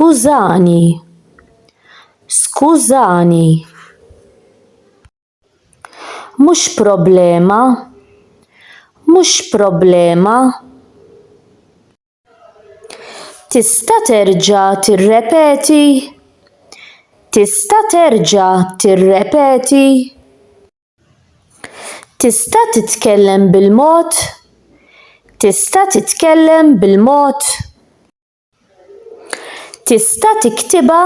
Skużani. Skużani. Mhux problema. Mhux problema. Tista' terġa' tirrepeti? Tista' terġa' tirrepeti? Tista' titkellem bil-mod? Tista' titkellem bil-mod? Tista' tiktibha?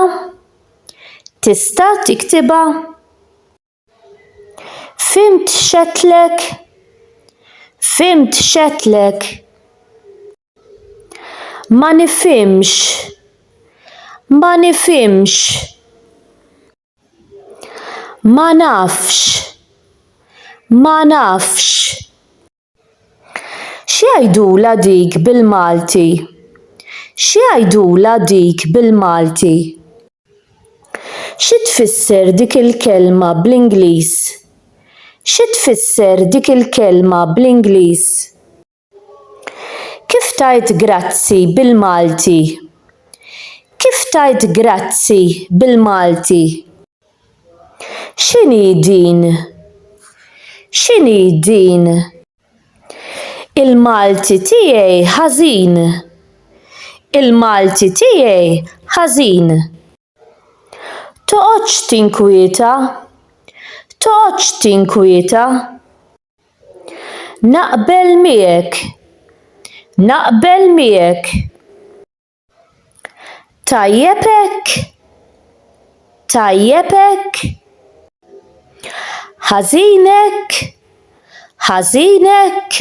Tista' tiktibha? Fhimt x'għedtlek? Fhimt x'għedtlek? Ma nifhimx. Ma nifhimx. Ma nafx. Ma nafx. X'jgħidulha dik bil-Malti? X'jgħidulha dik bil-Malti? Xi tfisser dik il-kelma bl-Ingliż? Xi tfisser dik il-kelma bl-Ingliż? Kif tgħid grazzi bil-Malti? Kif tgħid grazzi bil-Malti? X'inhi din? X'inhi din? Il-Malti tiegħi ħażin. Il-Malti tiegħi ħażin. Toqgħodx tinkwieta. Toqgħodx tinkwieta. Naqbel miegħek. Naqbel miegħek. Tajjeb hekk. Tajjeb hekk. Ħażin hekk. Ħażin hekk.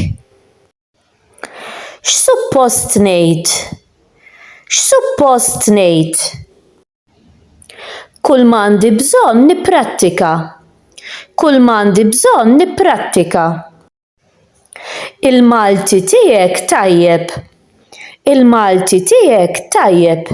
X'suppost ngħid? X'suppost ngħid? Kull m'għandi bżonn nipprattika. Kull m'għandi bżonn nipprattika. Il-Malti tiegħek tajjeb. Il-Malti tiegħek tajjeb.